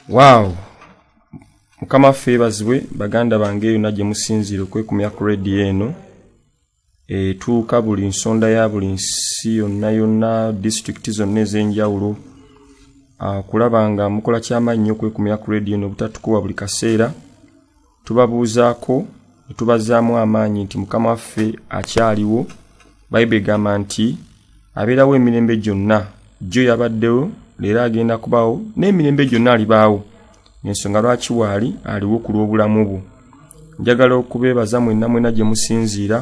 waaw mukama ffe ebazibwe baganda bange yona gye musinziire okwekumya ku rediyo eno etuuka buli nsonda ya buli nsi yonna yonna disitulikiti zonna ez'enjawulo ah, kulaba nga mukola kyamaanyi nyo okwekumya ku rediyo eno obutatukuwa buli kaseera tubabuuzaako ne tubazzaamu amaanyi nti mukama waffe akyaliwo bayibuli egamba nti abeerawo emirembe gyonna jjo yabaddewo leero agenda kubawo n'emirembe gyonna alibaawo ensonga lwaki waali aliwo ku lw'obulamu bwo njagala okubeebaza mwenna mwena gye musinziira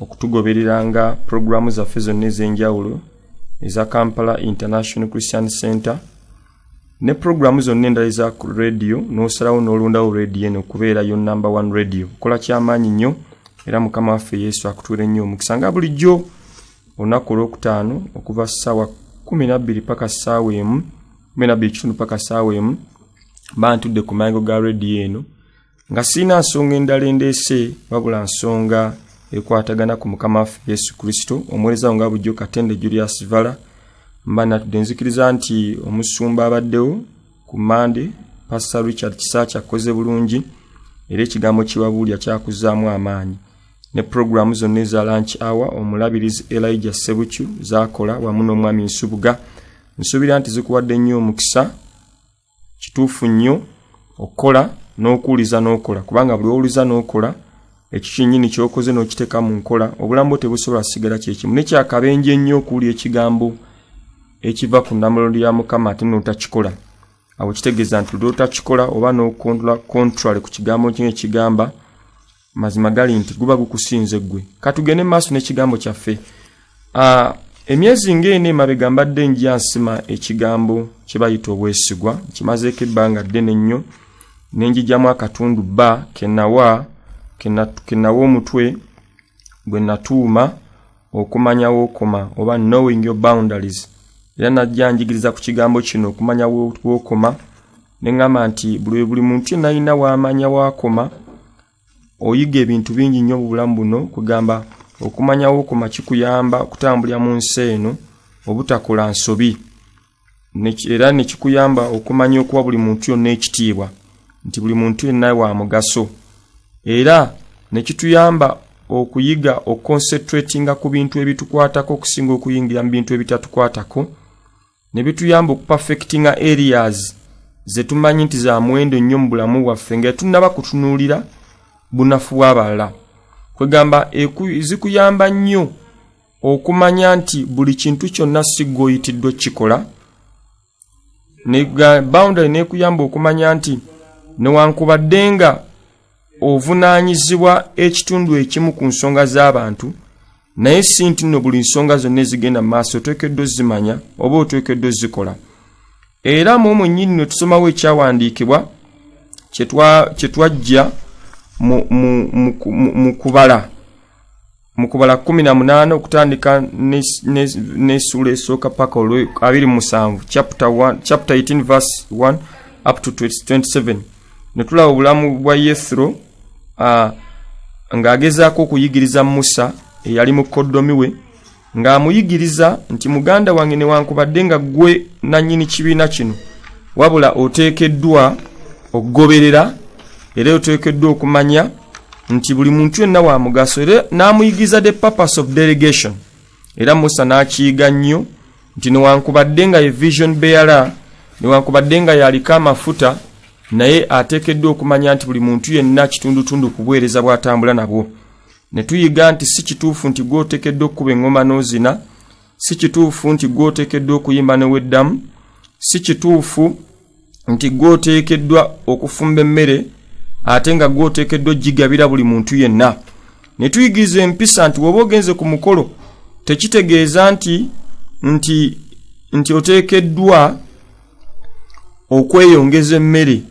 okutugobereranga pulogulaamu zaffe zonna ez'enjawulo eza kampala international christian center ne pulogulaamu zonna endala eza ku radiyo n'osalawo n'olondawo radiyo eno okubeera yo namba one radiyo kola kyamaanyi nnyo era mukama waffe yesu akutuule nnyo omukisa nga bulijjo olunaku olwokutaano okuva ssaawa kumi nabbiri paka ssaawa emu kumi nabbiri kitundu paka ssaawa emu bantudde ku maango ga radiyo eno nga sirina nsonga endala endeese wabula nsonga ekwatagana ku mukama waffe yesu kristo omuweereza wo nga bujjo katende julius vala mba natudde nzikiriza nti omusumba abaddewo ku mande pasta richard kisaaki akkoze bulungi era ekigambo kibabuulya kyakuzaamu amaanyi ne pulogulaamu zonna eza lanch hour omulabirizi elija sebukyu zakola wamu n'omwami nsubuga nsuubira nti zikuwadde nnyo omukisa kituufu nnyo okukola n'okuwuliza n'okola kubanga buli owuliza n'okola ekyo kyennyini ky'okoze n'okiteeka mu nkola obulamu bwo tebusobola kusigala kyekimu nekyakabenje ennyo okuwulya ekigambo ekiva ku namulondo ya mukama ate n'otakikola awo kitegeeza nti lwotakikola oba n'okontrola contrary ku kigambo kino ekigamba mazima gali nti guba gukusinze ggwe katugende mu maaso n'ekigambo kyaffe ah, emyezi ng'eno emabega mbadde nja nsima ekigambo kye bayita obwesigwa nkimazeeko ebbanga ddene nnyo ne njijamu akatundu bba kenawa kenawa omutwe gwe natuuma okumanya wookoma oba knowing your boundaries era najja njigiriza ku kigambo kino okumanya wookoma ne ŋŋamba nti buli we buli muntu yenna alina waamanya waakoma oyiga ebintu bingi nnyo mu bulamu buno kwegamba okumanya wookoma kikuyamba okutambulira mu nsi eno obutakola nsobi era ne kikuyamba okumanya okuwa buli muntu yonna ekitiibwa nti buli muntu yenna wa mugaso era ne kituyamba okuyiga okukonsetratinga ku bintu ebitukwatako okusinga okuyingira mu bintu ebitatukwatako ne bituyamba okupafekitinga areas ze tumanyi nti za muwendo nnyo mu bulamu bwaffe nga tunnaba kutunuulira bunafu bw'abalala kwegamba zikuyamba nnyo okumanya nti buli kintu kyonna si gweoyitiddwa okukikola boundary nekuyamba okumanya nti newankubadde nga ovunaanyizibwa ekitundu ekimu ku nsonga z'abantu naye si nti nno buli nsonga zonna ezigenda mu maaso oteekeddwa ozimanya oba oteekeddwa ozikola era mu omwe nnyini no tusomawo ekyawandiikibwa kye twajja mu kubala mu kubala kumi na munaana okutandika n'essuula esooka paka olw abiri musanvu chapter 18 verse 1 up to 27 ne tulaba obulamu bwa yethro uh, ng'agezaako okuyigiriza musa eyali mukoddomi we ng'amuyigiriza nti muganda wange newankubadde nga ggwe nannyini kibiina kino wabula oteekeddwa okugoberera era oteekeddwa okumanya nti buli muntu yenna wa mugaso era n'amuyigiza the purpose of delegation era musa n'akiyiga nnyo nti newankubadde nga ye vision beara newankubadde nga yaliko amafuta naye ateekeddwa okumanya nti buli muntu yenna kitundutundu kubuweereza bw'atambula nabwo ne tuyiga nti si kituufu nti gw'oteekeddwa okukuba eŋŋoma n'ozina si kituufu nti gw'oteekeddwa okuyimba neweddamu si kituufu nti gwoteekeddwa okufumba emmere ate nga gwoteekeddwa ogigabira buli muntu yenna ne tuyigiriza empisa nti woba ogenze ku mukolo tekitegeeza nti nti nti oteekeddwa okweyongeza emmere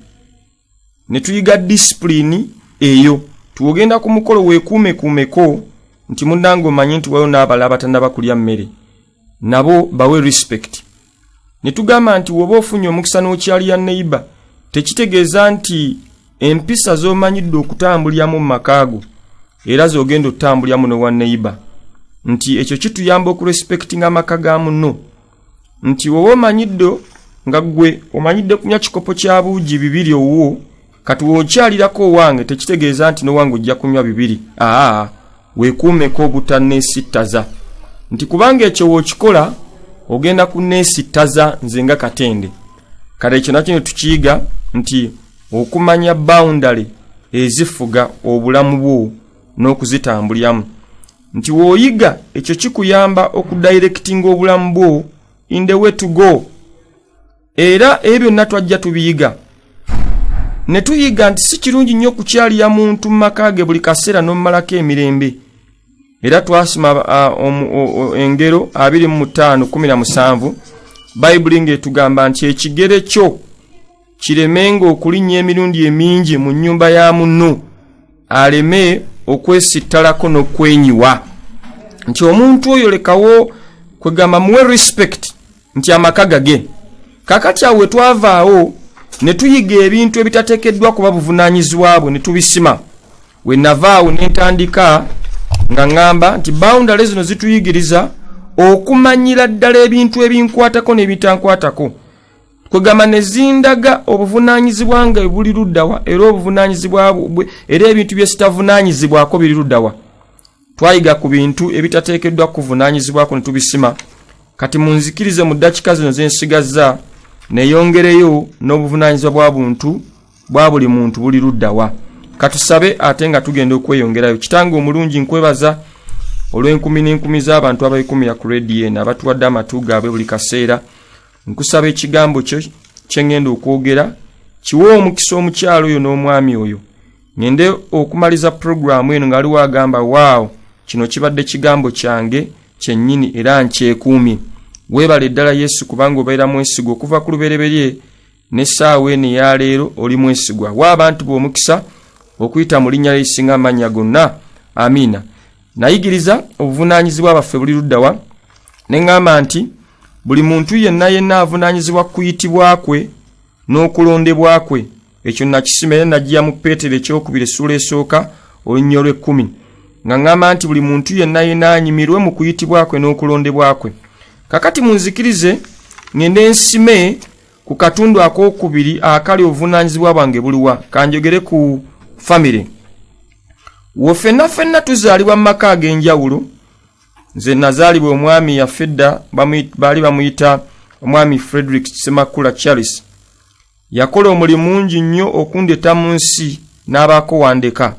ne tuyiga disipulini eyo tiwogenda ku mukolo weekuumekuumeko nti munnange omanye nti waliwo n'abalala batanaba kulya mmere nabo bawe respect ne tugamba nti woba ofunye omukisa n'okyali ya neighbor tekitegeeza nti empisa z'omanyidde okutambulyamu mu makaago era z'ogenda otambulyamu ne wa neighbor nti ekyo kituyamba okurespektinga amaka ga muno nti woba omanyidde nga ggwe omanyidde kunywa kikopo kya buugi bibiri owuwo kati w'okyalirako owange tekitegeeza nti n'owange ojja kunywa bibiri aa weekuumeko obutanneesittaza nti kubanga ekyo w'okikola ogenda kunneesittaza nze nga katende kale ekyo nakyo ne tukiyiga nti okumanya bawundale ezifuga obulamu bwo n'okuzitambulyamu nti w'oyiga ekyo kikuyamba okudayirekitinga obulamu bwo in the way to go era ebyo byonna twajja tubiyiga ne tuyiga nti si kirungi nnyo okukyalira muntu mu maka ge buli kaseera n'omumalako emirembe era twasoma engero 2517 bayibuli ng'etugamba nti ekigere kyo kiremenga okulinnya emirundi emingi mu nnyumba ya munno aleme okwesittalako n'okwenyiwa nti omuntu oyo lekawo kwegamba muwe respect nti amaka gage kakati awo wetwavaawo ne tuyiga ebintu ebitatekeddwa kuba buvunanyizibwa bwe ne tubisima we navaawo ne ntandika nga ŋŋamba nti bawundale zino zituyigiriza okumanyira ddala ebintu ebinkwatako n'ebitankwatako kwegamba ne zindaga obuvunaanyizibwa nga buli luddawa era obuvunaanyizibwa bwe era ebintu bye sitavunaanyizibwako biri luddawa twayiga ku bintu ebitateekeddwa kuvunaanyizibwako ne tubisima kati munzikirize mu ddakika zino ze nsigazza neyongereyo n'obuvunaanyizibwa bwa buntu bwa buli muntu buli luddawa katusabe ate nga tugenda okweyongerayo kitanga omulungi nkwebaza olw'enkumi n'enkumi z'abantu abayikumira ku rediyo eno abatuwadde amatu gaabwe buli kaseera nkusaba ekigambo kyo kye ŋŋenda okwogera kiwe omukisa omukyalo oyo n'omwami oyo ngende okumaliza pulogulaamu eno nga aliwo agamba waawo kino kibadde kigambo kyange kyennyini era nkyekuumye weebala eddala yesu kubanga obeera mwesigwa okuva ku lubereberye n'essaawa eno eyaleero oli mwesigwa wa abantu b'omukisa okuyita mu linnya lyeisinga amannya gonna amiina nayigiriza obuvunaanyizibwa baffe buli luddawa ne ŋŋamba nti buli muntu yenna yenna avunaanyizibwa ku kuyitibwa kwe n'okulondebwa kwe ekyo nakisima era nagiya mu peetero ekyokubiri essuula esooka olunya olwekkumi nga ŋŋamba nti buli muntu yenna yena anyimirwe mu kuyitibwa kwe n'okulondebwa kwe kakati munzikirize ŋende nsime ku katundu akokubiri akali obuvunaanyizibwa bwange buliwa kanjogere ku famire wo fenna fenna tuzaalibwa mu maka ag'enjawulo nze nazaalibwa omwami yafedda baali bamuyita omwami frederick semakula charles yakola omulimu mungi nnyo okundeta mu nsi n'abaako wandeka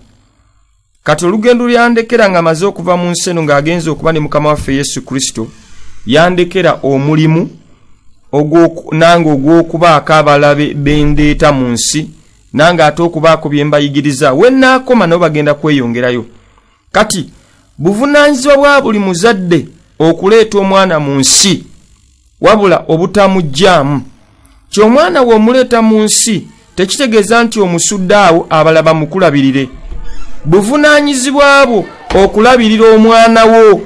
kati olugendo lyandekera nga amaze okuva mu nsi eno ng'agenza okuba ne mukama waffe yesu kristo yandekera omulimu nange ogw'okubaako abalabe bendeeta mu nsi nange ate okubaako bye mbayigiriza we naakoma nabo bagenda kweyongerayo kati buvunaanyizibwa bwa buli muzadde okuleeta omwana mu nsi wabula obutamugyamu ti omwana we omuleeta mu nsi tekitegeeza nti omusudde awo abala bamukulabirire buvunaanyizibwa bwo okulabirira omwana wo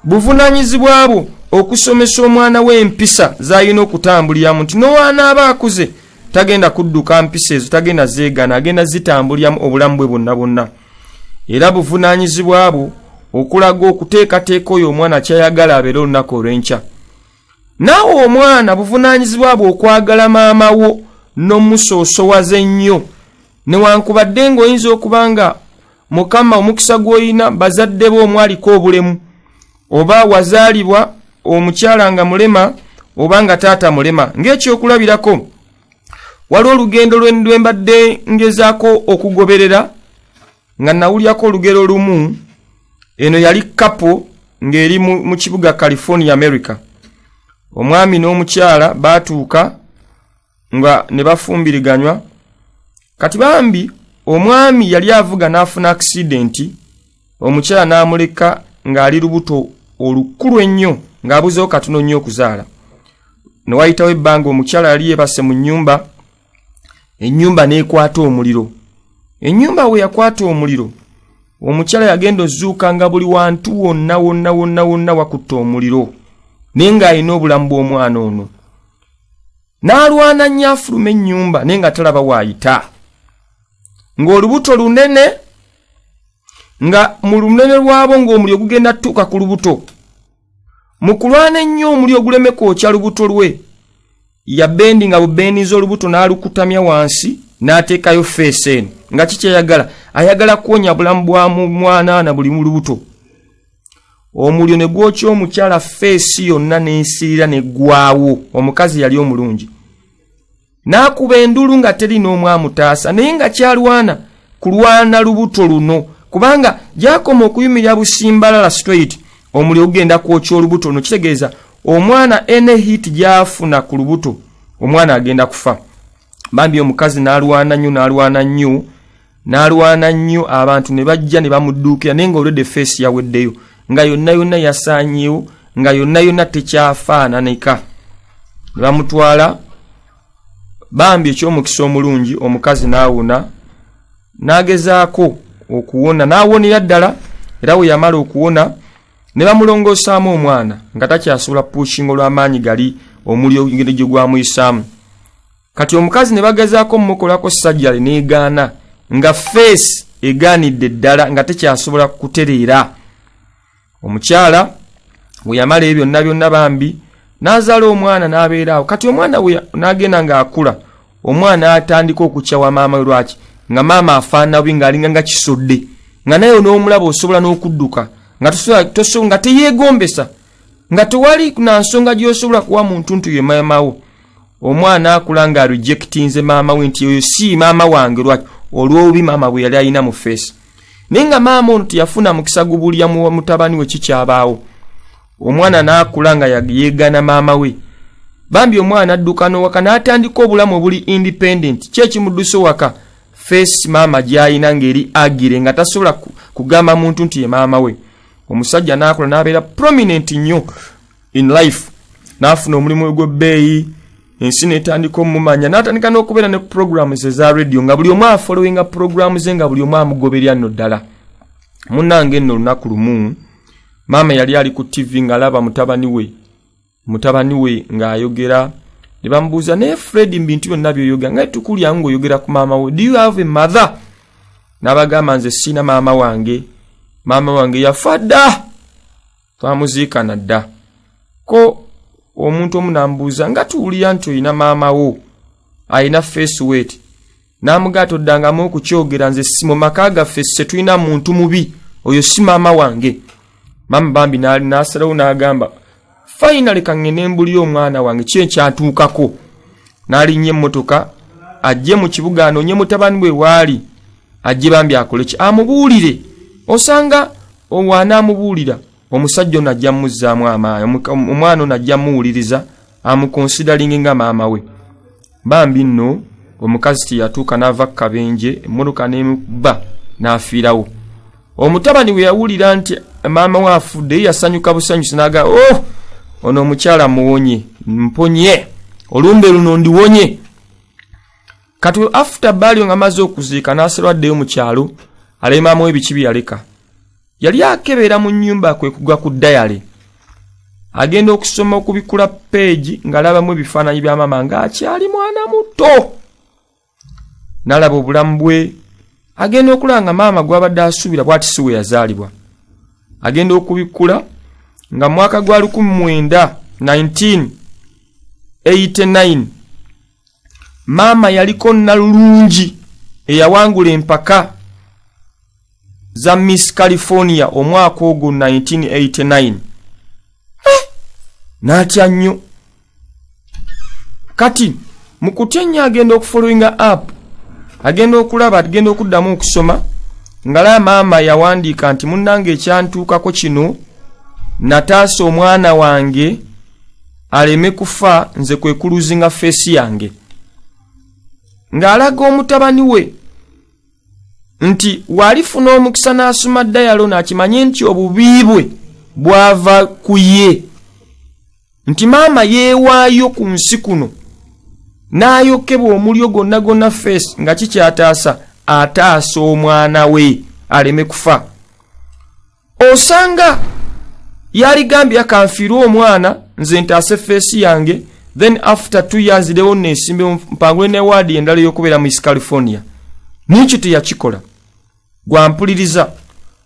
buvunaanyizibwa bwo okusomesa omwana we empisa zalina okutambuliramu nti nowanaaba akuze tagenda kudduka mpisa ezo tagenda zeegana agenda zitambuliramu obulamu bwe bonna bonna era buvunaanyizibwa bwo okulaga okuteekateeka oyo omwana kyayagala abeere olunaku olw'enkya naawe omwana buvunaanyizibwa bwe okwagala maama wo n'omusoosowaza ennyo newankubadde ng'oyinza okuba nga mukama omukisa gw'olina bazadde be omwaliko obulemu oba wazaalibwa omukyala nga mulema oba nga taata mulema ng'ekyokulabirako waliwo olugendo lwe mbadde ngezaako okugoberera nga nawulyako olugero lumu eno yali kapo ng'eri mu kibuga california america omwami n'omukyala baatuuka nga ne bafumbiriganywa kati bambi omwami yali avuga n'afuna akisidenti omukyala n'amuleka ng'ali lubuto olukulu ennyo ng'abuzeewo katono nnyo okuzaala ne wayitawo ebbanga omukyala yali yeebase mu nnyumba ennyumba n'ekwata omuliro ennyumba we yakwata omuliro omukyala yagenda ozuuka nga buli wantu wonna wonna wonna wonna wakutta omuliro naye ng'alina obulamu bw'omwana ono n'alwana nnyo afuluma ennyumba naye nga talaba waayita ng'olubuto lunene nga mu lunene lwabo ng'omulyo gugenda tutuuka ku lubuto mu kulwana ennyo omulyo oguleme kwokya lubuto lwe yabendi nga bubendiza olubuto n'alukutamya wansi n'ateekayo feesi eno nga kikyayagala ayagala kuwonya bulamu bwa mwanaana buli mu lubuto omuliro ne gwokya omukyala feesi yonna n'ensirira ne ggwawo omukazi yali omulungi n'akuba endulu nga teri n'omu amutaasa naye nga kyalwana kulwana lubuto luno kubanga gyakoma okuyumira busimbalala straight omuliro ogenda kwokya olubuto luno kitegeeza omwana ene hit gyafuna ku lubuto omwana agenda kufa bambi omukazi n'alwana nnyo n'alwana nnyo n'alwana nnyo abantu ne bajja ne bamudduukira naye nga olwedde feesi yaweddeyo nga yonna yonna yasaanyewo nga yonna yonna tekyafaananika ne bamutwala bambi eky'omukisa omulungi omukazi n'awona n'agezaako okuwona n'awonera ddala era we yamala okuwona ne bamulongoosaamu omwana nga takyasobola puushinga olw'amaanyi gali omuli ogende gye gwamuyisaamu kati omukazi ne bagezaako omukolako sajjale n'egaana nga feesi egaanidde ddala nga tekyasobola kutereera omukyala we yamala ebyo byonna byonna bambi n'azaala omwana n'abeeraawo kati omwana we n'agenda ng'akula omwana atandika okukyawa maama we lwaki nga maama afaana bubi ng'alinga nga kisodde nga naye n'omulaba osobola n'okudduka nga teyeegombesa nga tewali na nsonga gy'osobola kuwa muntu nti ye maamawo omwana akula nga rejectinze maama we nti oyo si maama wange lwaki olw'obubi maama bwe yali alina mu feesi naye nga maama ono teyafuna mukisa gubulya mu mutabani we kikyabaawo omwana n'akula nga yeegana maama we bambi omwana adduka n'owaka n'atandika obulamu obuli independent ki ekimuddusa owaka feesi maama gy'alina ng'eri agire nga tasobola kugamba muntu nti ye maama we omusajja n'akola n'abeera prominent nnyo in life n'afuna omulimu ogw'ebbeeyi ensi netandika omumanya natandika nokubeera ne program ze za radio nga buli omu afolowinga program ze nga buli omu amugoberya no ddala munange nno olunaku lumu maama yali ali ku tv ng'alaba mutabani we mutabani we ng'ayogera ne bamubuuza naye fred mu bintu byonna byoyogera nga tukulyamu ng'oyogera ku maama we do you have a mother n'abagamba nze siina maama wange maama wange yafa dda twamuziikana dda ko omuntu omu namubuuza nga tuwulira nti olina maama wo alina face wet n'amugaa toddangamu okukyogera nze si mu maka gaffe se tulina muntu mubi oyo si maama wange maama bambi n'asalawo n'agamba fayinale kaŋŋende mbuli omwana wange ki ekyatuukako n'alinnya emmotoka ajje mu kibuga anoonye mutabani bwe waali ajje bambi akole ki amubuulire osanga owaanaamubuulira omusajja ono ajja muzzaamu amaanyi omwana ono ajja muwuliriza amukonsidalingi nga maama we bambi nno omukazi teyatuuka n'ava ku kabenje emmotoka nemukuba n'afiirawo omutabani we yawulira nti maama we afudde ye yasanyuka busanyusi n'agaa o oh, ono omukyala muwonye mponye olumbe luno ndiwonye kati afta baalio nga maze okuziika n'aserwaddeyo mu kyalo alemaamawo ebiki bye yaleka yali akebera mu nnyumba kwe kugwa ku dayale agenda okusoma okubikula peegi ng'alabamu ebifaananyi bya maama ng'akyali mwana muto n'alaba obulamu bwe agenda okula nga maama gw'abadde asuubira bwati si we yazaalibwa agenda okubikkula nga mwaka gwa 19 89 maama yaliko nalulungi eyawangula empaka za miss california omwaka ogwo 1989 natya nnyo kati mukutya nnyo agenda okufollowinga app agenda okulaba agenda okuddamu okusoma ngalaa maama yawandiika nti munnanga ekyantuukako kino nataasa omwana wange aleme kufa nze kwe kuluzinga feesi yange ng'alaga omutabani we nti waalifuna omukisa n'asoma dayalo n'akimanye nti obubi bwe bwava ku ye nti maama yeewaayo ku nsi kuno n'ayokebwa omulyo gonna gonna feesi nga kikyataasa ataasa omwana we aleme kufa osanga yaligambye akanfiirwa omwana nze ntaase feesi yange then after two years lewo nesimbe mpangule ne waadi endala yokubeera mu east california nikyo teyakikola gwampuliriza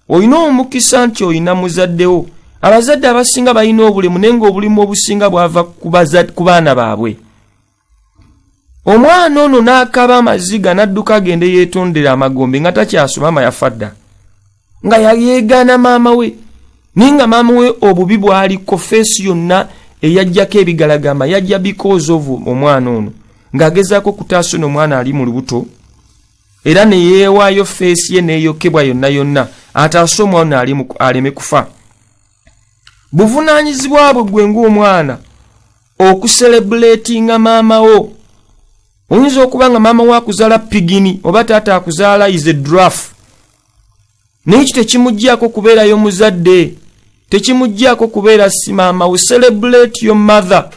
olina omukisa nti olina muzaddewo abazadde abasinga balina obulemu naye nga obulimu obusinga bwava ku baana baabwe omwana ono n'akaba amaziga n'adduka agende yeetondera amagombe nga takyasoma ama yafa dda nga yayeegaana maama we naye nga maama we obubi bwaliko feesi yonna eyajjako ebigalagamba yajja because of omwana ono ng'agezaako okutaasa ono omwana ali mu lubuto era ne yeewaayo feesi ye n'eyokebwa yonna yonna ataase omwana aleme kufa buvunaanyizibwa bwe gwe ng'omwana okuserebuletinga maama wo oyinza okuba nga maama wo akuzaala pigini oba taata akuzaala is a draft naye ekyo tekimuggyako kubeerayo muzadde tekimuggyako kubeera si maama we celebrate your mother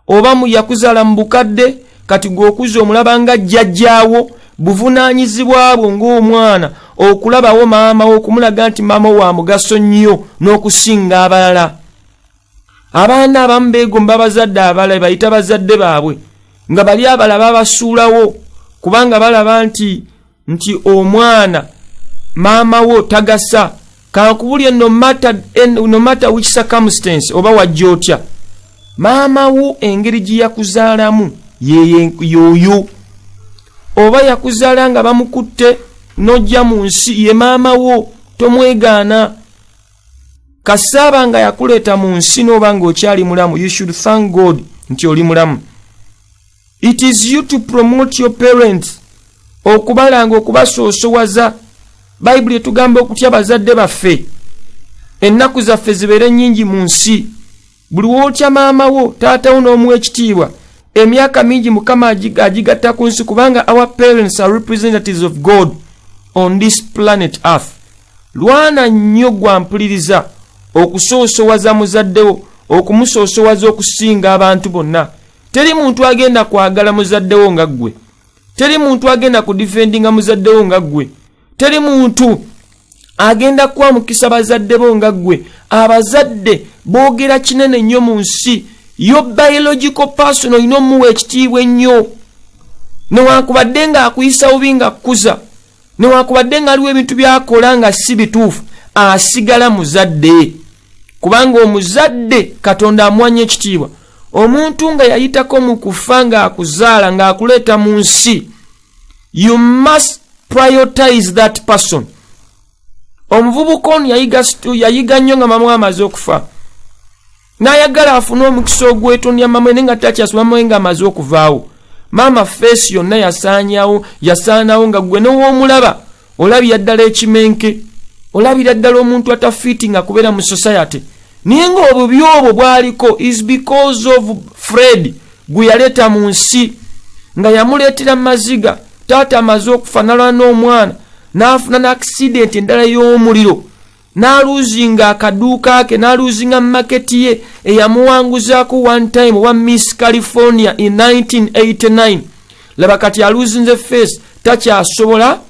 oba yakuzaala mu bukadde kati gweokuza omulaba nga jjajjaawo buvunaanyizibwa bwo ng'omwana okulabawo maama wo okumulaga nti maama wo wa mugaso nnyo n'okusinga abalala abaana abamu beegomba abazadde abala bayita bazadde baabwe nga bali abala babasuulawo kubanga balaba nti nti omwana maama wo tagasa kankubulye no matter which circumstance oba wajja otya maama wo engeri gye yakuzaalamu yoyo oba yakuzaala nga bamukutte n'ojja mu nsi ye maama wo tomwegaana kasaaba nga yakuleeta mu nsi n'oba nga okyali mulamu you should thank god nti oli mulamu it is you to promote your parents okubalanga okubasoosowaza bayibuli etugamba okutya bazadde baffe ennaku zaffe zibeere nnyingi mu nsi buli wootya maama wo taata wo n'omuwa ekitiibwa emyaka mingi mukama agigatta ku nsi kubanga our parents are representatives of god on this planet earth lwana nnyo gwampuliriza okusoosowaza muzaddewo okumusoosowaza okusinga abantu bonna teri muntu agenda kwagala muzaddewo nga ggwe teri muntu agenda kudifendinga muzaddewo nga ggwe teri muntu agenda kuwa mukisa bazadde bo nga ggwe abazadde boogera kinene nnyo mu nsi yo biological person olina omuwa ekitiibwa ennyo newankubadde ng'akuyisa bubi nga kukuza newankubadde ng'aliwo ebintu byakola nga si bituufu asigala muzadde kubanga omuzadde katonda amuwanya ekitiibwa omuntu nga yayitako mu kufa ng'akuzaala ng'akuleeta mu nsi you must prioritize that person omuvubuka ono yayiga nnyo nga mama amaze okufa n'ayagala afune omukisa ogwetondya mama ne nga takyasoma mama nga amaze okuvaawo maama feesi yonna yasaanyawo yasaanawo nga gwe new'omulaba olabira ddala ekimenke olabira ddala omuntu atafiiti nga kubeera mu society naye nga obubi obwo bwaliko is because of fred gwe yaleeta mu nsi nga yamuleetera maziga taata amaze okufanalwa n'omwana n'afuna n'akisidenti endala y'omuliro n'aluuzinga akaduuka ke n'aluuzinga maketi ye eyamuwanguzaako one time owa miss california in 1989 laba kati aluuzinze face takyasobola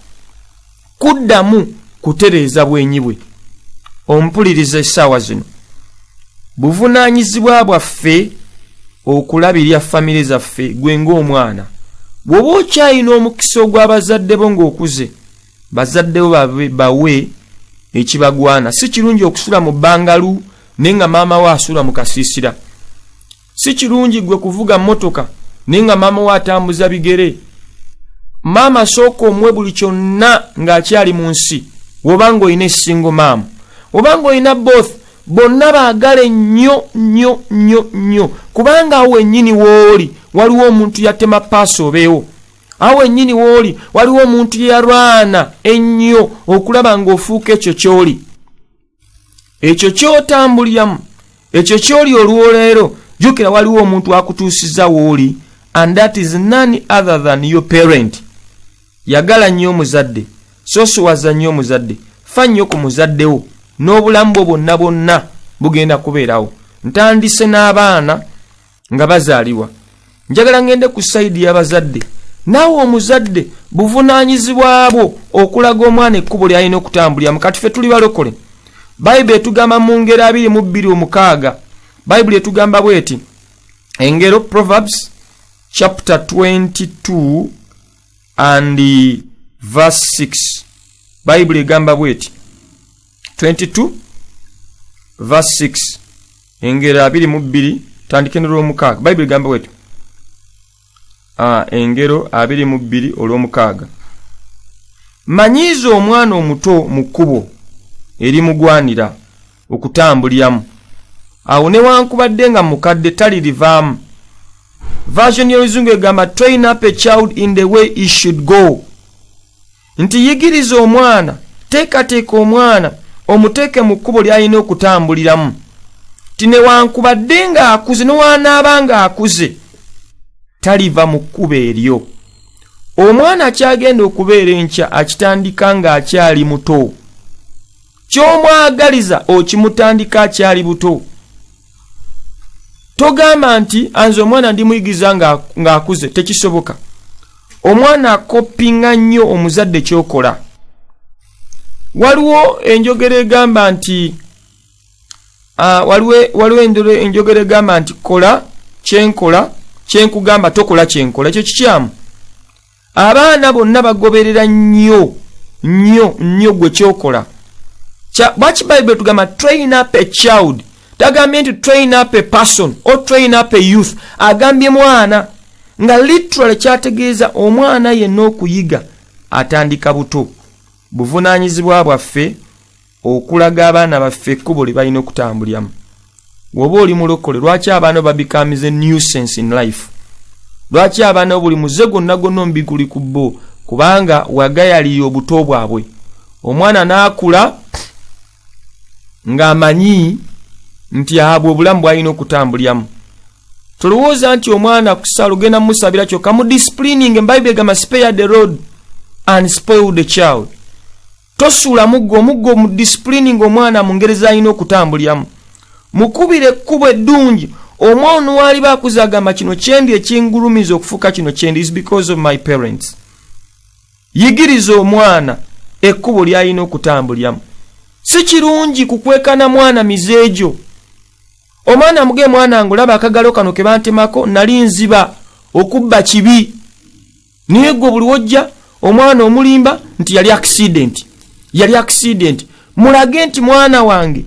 kuddamu kutereeza bwenyi bwe ompuliriza essaawa zino buvunaanyizibwa bwaffe okulabirira famire zaffe gwe ng'omwana bw'oba okyalina omukisa ogw'abazadde bo ng'okuze bazaddewo bawe ekibagwana si kirungi okusula mu bangalu naye nga maama wo asula mu kasiisira si kirungi gwe kuvuga motoka naye nga maama wo atambuza bigere maama sooka omuwe buli kyonna ng'akyali mu nsi wobanga olina esingo maama obanga olina both bonna baagale nnyo nnyo nnyo nnyo kubanga awo wennyini wooli waliwo omuntu yatema paasi obeewo awo wennyini wooli waliwo omuntu yeyalwana ennyo okulaba ng'ofuuka ekyo kyoli ekyo kyotambuliramu ekyo kyoli olwoleero jukira waliwo omuntu akutuusiza wooli and that is none other than your parent yagala nnyo omuzadde sosiwaza nnyo omuzadde fa nnyo ku muzaddewo n'obulamu bwo bwonna bwonna bugenda kubeerawo ntandise n'abaana nga bazaalibwa njagala ngende ku sayidi y'abazadde naawe omuzadde buvunaanyizibwa bwo okulaga omwana ekkubo lyalina okutambuliramu kati fe tuli balokole bayibuli etugamba mu ngeri abiri mu bbiri omukaaga bayibuli etugamba bweti engero proverbs chapter 22 and verse 6 bayibuli egamba bweti 22 verse 6 engero abiri mu bbiri tandike nolwomukaaga bayibuli gamba wetyo ah, engero abiri mu bbiri olwomukaaga manyiiza omwana omuto mu kkubo erimugwanira okutambuliramu awo newankubadde nga mukadde talirivaamu version y'oluzungu egamba train up a child in the way he should go nti yigiriza omwana teekateeka omwana omuteeke mu kkubo ly'alina okutambuliramu ti newankubadde ng'akuze newanaaba ng'akuze taliva mu kkubo eryo omwana kyagenda okubeera enkya akitandika ng'akyali muto ky'omwagaliza okimutandika akyali buto togamba nti anze omwana ndi muyigiza ng'akuze tekisoboka omwana akoppinga nnyo omuzadde kyokola waliwo enjogera egamba nti ah, waliwo enjogera egamba nti kola kyenkola kyenkugamba tokola kyenkola ekyo kikyamu abaana bonna bagoberera nnyo nnyo nnyo gwe kyokola lwaki bayibuli tugamba train up a child tagambye nti train up a person or train up a youth agambye mwana nga literally kyategeeza omwana yenna okuyiga atandika buto buvunaanyizibwa bwaffe okulaga abaana baffe ekkubo lye balina okutambuliramu woba oli mulokole lwaki abaana babikamize nuisance in life lwaki abaana buli muze gwonna gwonna omubiguli ku bo kubanga wagayalira obuto bwabwe omwana n'akula ng'amanyi nti abwe obulamu bwalina okutambuliramu tolowooza nti omwana kusala ogenda mumusabira kyoka mu disciplining embaibuli egamba spare the road and spoil the child tosuula muggo omuggo mu disipulini ng'omwana mu ngeri z'alina okutambuliramu mukubira ekkubo eddungi omwana waliba akuza agamba kino kyendi ekingulumiza okufuuka kino kyendi is because of my parents yigiriza omwana ekkubo ly'alina okutambuliramu si kirungi kukwekana mwana mize egyo omwana muge mwana ngulaba akagalo kano ke bantemako nali nziba okubba kibi naye gwe buli wojja omwana omulimba nti yali accident yali accident mulage nti mwana wange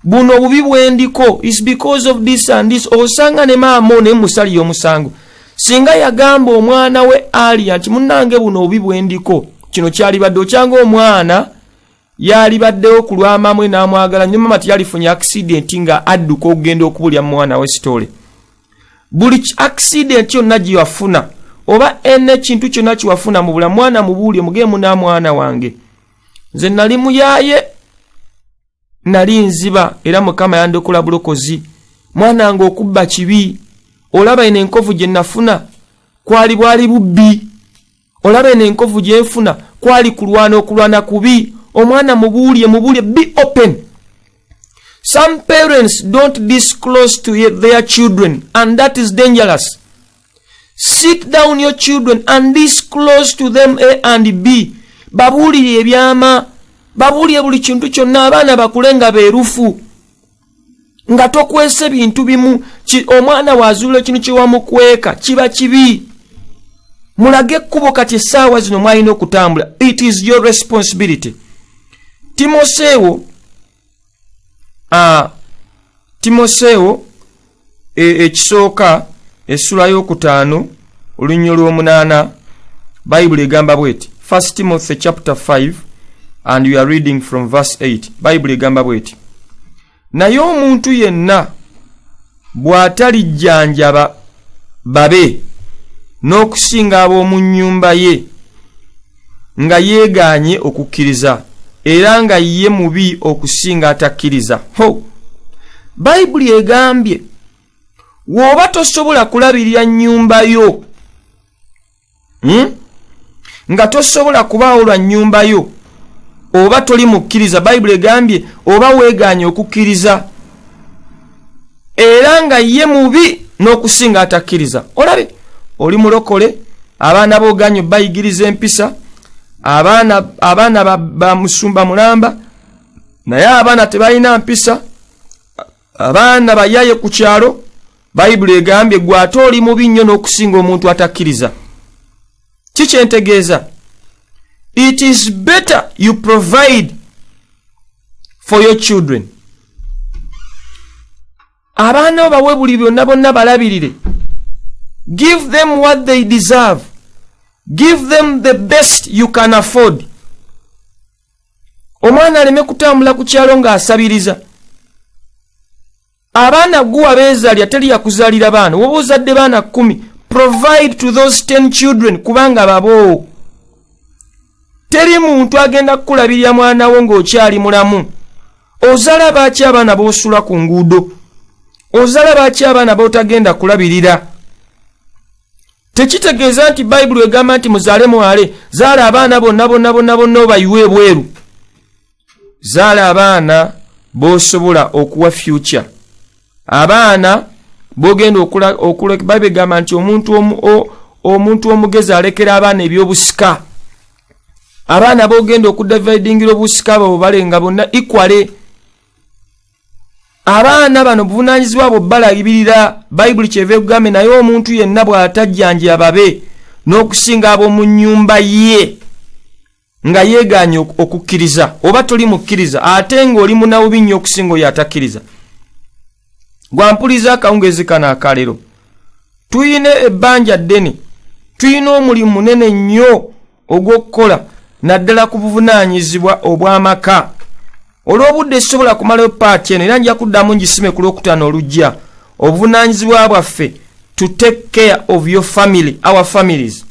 buno obubi bwendiko is because of this and this osanga ne maama one musali yomusango singa yagamba omwana we alia nti munange buno obubi bwendiko kino kyalibadde okyanga omwana yalibaddewo ku lwamamwe n'amwagala nyo mama teyalifunye akisidenti nga adduka okugenda okubulya mumwana we sitole buli akisidenti yonna gyewafuna oba ena ekintu kyonna kiwafuna mu bula mwana mubuulye mugeemu n'amwana wange nze nali muyaye nali nziba era mukama yandokola bulokozi mwana wange okubba kibi olaba eno enkovu gye nafuna kwali bwali bubbi olaba eno enkovu gyenfuna kwali kulwana okulwana kubi omwana mubuulye mubuulye be open some parents don't disclose to their children and that is dangerous sit down your children and disclose to them a and b babuulire ebyama babuulire buli kintu kyonna abaana bakule nga beerufu nga tokwese bintu bimu omwana wazuula ekintu kyewamukweka kiba kibi mulage ekkubo kati essaawa zino mwalina okutambula it is your responsibility timoseewo uh, timoseewo e, ekisooka essula y'okutaano olunnyo lw'omunaana bayibuli egamba bweti first timothy chapter 5 and we are reading from verse 8 bayibuli egamba bweti naye omuntu yenna bw'atalijjanjaba babe n'okusinga ab'omu nnyumba ye nga yeegaanye okukkiriza era nga ye mubi okusinga atakkiriza ho bayibuli egambye wooba tosobola kulabirira nnyumba yo hmm? nga tosobola kubaawo lwa nnyumba yo oba toli mukkiriza bayibuli egambye oba weegaanye okukkiriza era nga ye mubi n'okusinga atakkiriza olabe oli mulokole abaana booganyo bayigiriza empisa abaana ba musumba mulamba naye abaana tebalina mpisa abaana bayaye ku kyalo bayibuli egambye gwe ate oli mubi nnyo n'okusinga omuntu atakkiriza kikyentegeeza it is better you provide for your children abaana bo bawe buli byonna bonna balabirire give them what they deserve give them the best you can afford omwana aleme kutambula ku kyalo ng'asabiriza abaana gwe wabeezalira teri yakuzaalira baana woba ozadde baana kumi provide to those ten children kubanga baboowo teri muntu agenda kukulabirira mwana wo ng'okyali mulamu ozala baaki abaana b'osula ku nguudo ozala baaki abaana b'otagenda kulabirira tekitegeeza nti bayibuli egamba nti muzaale mwale zaala abaana bonna bonna bonna bonna obayiwa ebweru zaala abaana bosobola okuwa future abaana bogenda babegamba nti omuntu omuntu omugezi alekera abaana ebyobusika abaana bogenda okudividingira obusika babo balenga bonna ikwale abaana bano buvunanyizibwa bwo balabirira bayibuli kyeva ekugambe naye omuntu yenna bw'atajjanjya babe n'okusinga ab'omu nnyumba ye nga yeegaanye okukkiriza oba toli mukkiriza ate ng'oli munawubi nnyo okusinga oyo atakkiriza gwampuliza akawungeezi kano akalero tulina ebbanja ddene tulina omulimu munene nnyo ogw'okukola naddala ku buvunaanyizibwa obw'amaka olw'obudde sisobola kumalayo paati eno era nja kuddamu ngisime ku lwokutaano olujja obuvunaanyizibwa bwaffe to take care of your family our families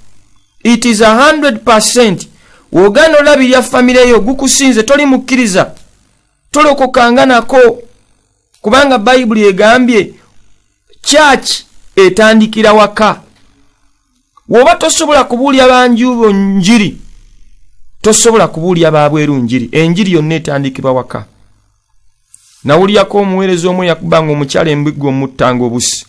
it is 100 wogana olabirya famire yo gukusinze toli mukkiriza tolokokanga nako kubanga bayibuli egambye church etandikira waka woba tosobola kubuulya banjubo njiri tosobola kubuulya babweru njiri enjiri yonna etandikibwa waka nawulyako omuweereza omu yakubanga omukyala embigga omuttanga obusi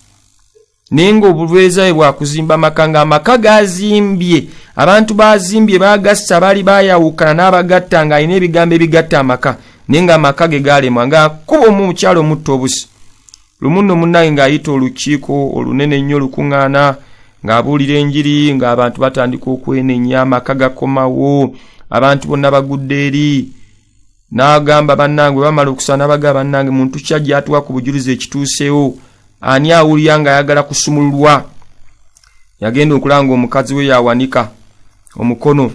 naye ng'obulweza bwe bwakuzimba amaka ng'amaka gazimbye abantu bazimbye bagassa baali bayawukana n'abagatta ng'alina ebigambo ebigatta amaka naye ng'amaka ge gaalemwa ng'akuba omu omukyalo omutta obusi lumu nno munnange ng'ayita olukiiko olunene ennyo olukuŋŋaana ng'abuulira enjiri ng'abantu batandika okwenenya amaka gakomawo abantu bonna bagudde eri n'agamba bannange bwe bamala okusaba n'abagaba bannange muntu ki ajja atuwa ku bujulizi ekituuseewo ani awulira ng'ayagala kusumululwa yagenda okulanga omukazi we yawanika omukono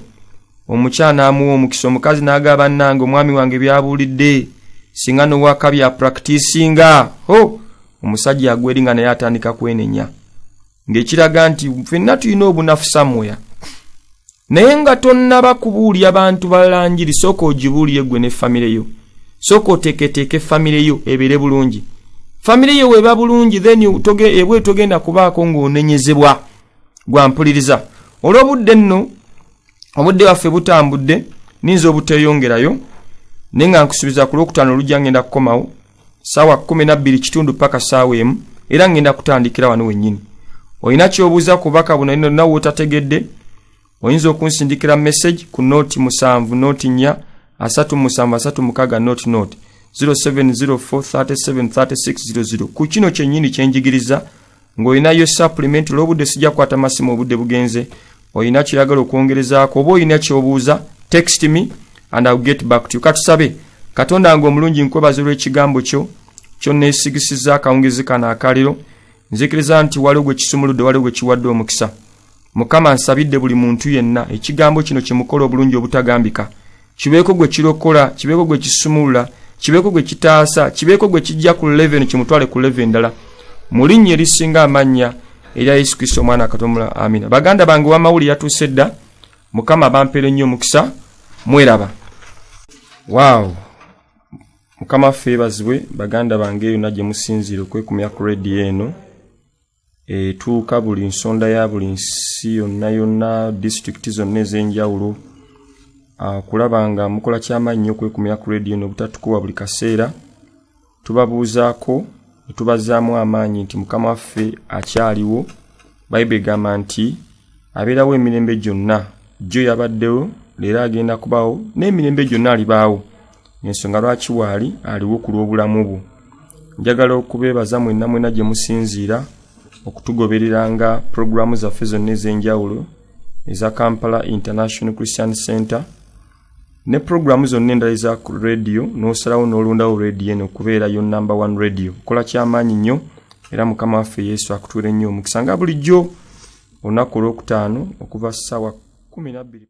omukyala n'amuwa omukisa omukazi n'agaba bannange omwami wange byabuulidde singa n'owaka bya prakitisinga ho omusajja agweri nga naye atandika kwenenya ng'ekiraga nti fenna tulina obunafu samuya naye nga tonnaba kubuulira bantu balala njiri sooka ogibuulire gwe ne famire yo sooka oteeketeeke famire yo ebeere bulungi famire yo weeba bulungi then ebwe togenda kubaako ng'onenyezebwa gwampuliriza olw'obudde nno obudde bwaffe butambudde ninza obuteeyongerayo naye nga nkusubiza ku lwokutaano olujja ngenda kukomawo saawa kumi nabbiri kitundu paka saawa emu era ngenda kutandikira wano wennyini olina kyobuuza ku bubaka buno ino nawe otategedde oyinza okunsindikira message ku noti musanvu noti nya asatu musanvu asatu mukaga noti noti 0704373600 ku kino kyennyini kyenjigiriza ng'olinayo supplement olw'obudde sijja kwata masimu obudde bugenze olina kiragala okwongerezaako oba olina kyobuuza text me and ill get back to you katusabe katonda nga omulungi nkwebaza olw'ekigambo kyo kyonneesigisiza akawungezi kano akaliro nzikiriza nti waliwo gwe kisumuludde waliwo gwe kiwadde omukisa mukama nsabidde buli muntu yenna ekigambo kino kyemukola obulungi obutagambika kibeeko gwe kirokola kibeeko gwe kisumulula kibeeko gwe kitaasa kibeeko gwe kijja ku leve eno kimutwale ku leve endala mu linnya erisinga amannya erya yesu kristo omwana akatomula amina baganda bange wamawuli yatuuse dda mukama bampere nnyo omukisa mweraba waaw mukama ffe ebazibwe baganda bange yonna gye musinziire okwekumya ku rediyo eno etuuka buli nsonda ya buli nsi yonna yonna disitulikiti zonna ez'enjawulo ah, kulaba nga mukola kyamaanyi nyo okwekumira ku rediyo n'obutatukuwa buli kaseera tubabuuzaako netubazaamu amaanyi nti mukama waffe akyaliwo bayibuli egamba nti abeerawo emirembe gyonna jjo yabaddewo leero agenda kubawo n'emirembe gyonna alibaawo ensonga lwaki waali aliwo ku lw'obulamu bwo njagala okubeebaza mwenna mwena gye musinziira okutugobereranga pulogulaamu zaffe zonna ez'enjawulo eza kampala international christian center ne pulogulaamu zonna endala eza radiyo n'osalawo n'olondawo radiyo eno okubeera yo number one radiyo kola kyamaanyi nnyo era mukama waffe yesu akutuule nnyo omukisa nga bulijjo olunaku olwokutaano okuva ssaawa kumi nabbiri